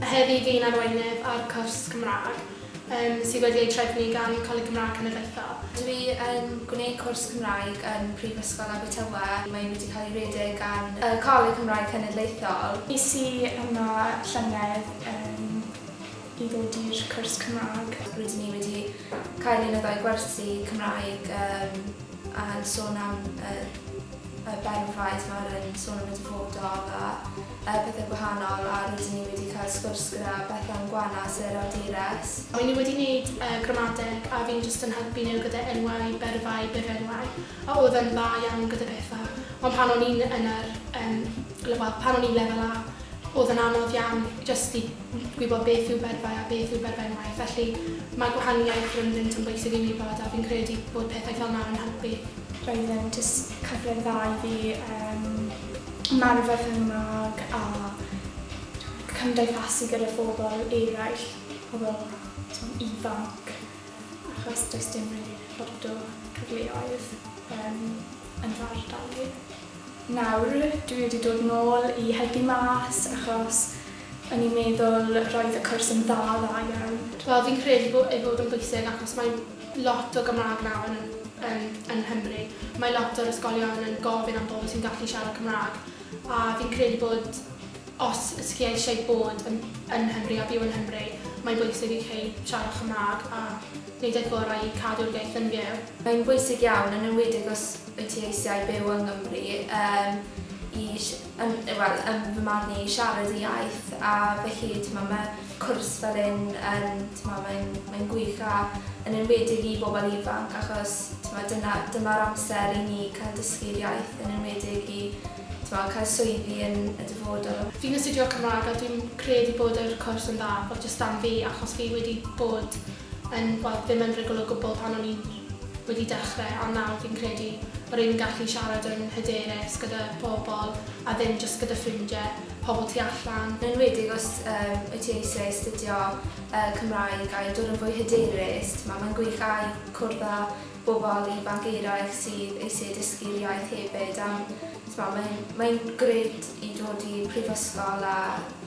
Heddi fi'n arweinydd ar cwrs Cymraeg yym sydd wedi ei trefnu gan Coleg Cymraeg Cenedlaethol. Dw i yn gwneud cwrs Cymraeg yn Prifysgol Abertawe. Mae wedi cael ei redeg gan y Coleg Cymraeg Cenedlaethol. Es i yma llynedd yym i ddod i'r cwrs Cymraeg. Rydyn ni wedi Cael un o ddau gwersi Cymraeg yym yn sôn am yr yy Ben Prize ma' hwnna'n yn sôn am y dyfodol a yy pethe gwahanol a rydyn ni wedi cael sgwrs gyda Bethan Gwanas yr awdures. Mae nhw wedi neud yy gramadeg a fi'n jyst yn helpu nhw gyda enwau, byrfau, byrfenwau a oedd yn dda iawn gyda petha ond pan o'n i'n yn yr yym lefel pan o'n i'n lefel A oedd yn anodd iawn jyst i gwybod beth yw byrddau a beth yw byrddau maeth, felly mae gwahaniaeth rhyngddynt yn bwysig i'w wybod a fi'n credu bod pethau fel 'na yn helpu. Roedd e'n jyst cyfle dda i fi yym ymarfer fy Nghymraeg a cymdeithasu gyda phobl eraill, pobl t'mod ifanc, achos does dim rili lot o cyfleoedd yym yn fy ardal i. Nawr dwi wedi dod nôl i helpu mas achos o'n i'n meddwl roedd y cwrs yn dda, dda iawn. Wel fi'n credu bo- ei fod yn bwysig achos mae lot o Gymraeg nawr yn yn yn Nghymru. Mae lot o'r ysgolion yn gofyn am bobl sy'n gallu siarad Cymraeg a fi'n credu bod os os chi eisiau bod yn yn Nghymru a byw yn Nghymru mae'n bwysig i chi siarad Cymraeg a neud eich gorau i cadw'r iaith yn fyw. Mae'n bwysig iawn yn enwedig os wyt ti eisiau byw yng Nghymru yym i sh- yn yy wel yn fy marn i i siarad y iaith a felly t'mo' ma' cwrs fel hyn yn t'mo' mae'n mae'n gwych a yn enwedig i bobl ifanc achos t'mo' dyna dyma'r amser i ni ca'l dysgu'r iaith yn enwedig i t'mo' ca'l swyddi yn y dyfodol. Fi'n astudio Cymrâg a dwi'n credu bod yr cwrs yn dda, wel jyst am fi achos fi wedi bod yn, wel, ddim yn rhugl o gwbl pan o'n i wedi dechrau, ond nawr fi'n credu ma' rwy'n yn gallu siarad yn hyderus gyda pobl a ddim jyst gyda ffrindiau, pobl tu allan. Yn enwedig os wyt ti eisiau astudio Cymraeg a i dod yn fwy hyderus, timod, mae'n gwych a i cwrdd â bobl ifanc eraill sydd eisiau dysgu'r iaith hefyd, a, timod, mae'n, mae'n grêt i dod i'r prifysgol a,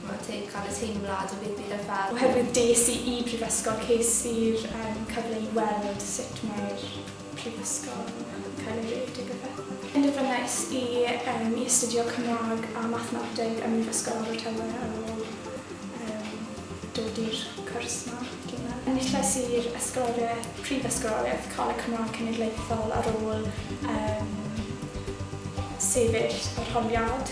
Mae'n teg cael y teimlad o ddim byd ar fai. Oherwydd des i i Brifysgol ces i'r yym cyfle i weld sut mae'r Prifysgol yn cael ei redeg a phethe. Penderfynais i yym i astudio Cymraeg a Mathemateg ym Mhrifysgol Abertawe ar ôl yym dod i'r cwrs 'ma, dwi'n meddwl. Enillais i'r Ysgoloriaeth, Prifysgoloriaeth Coleg Cymraeg Cenedlaethol ar ôl yym sefyll arholiad.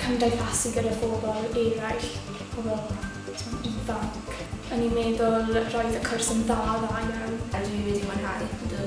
cymdeithasu gyda phobl eraill, pobl t'mod ifanc. O'n i'n meddwl roedd y cwrs yn dda, dda iawn. A dwi wedi mwynhau, ydw.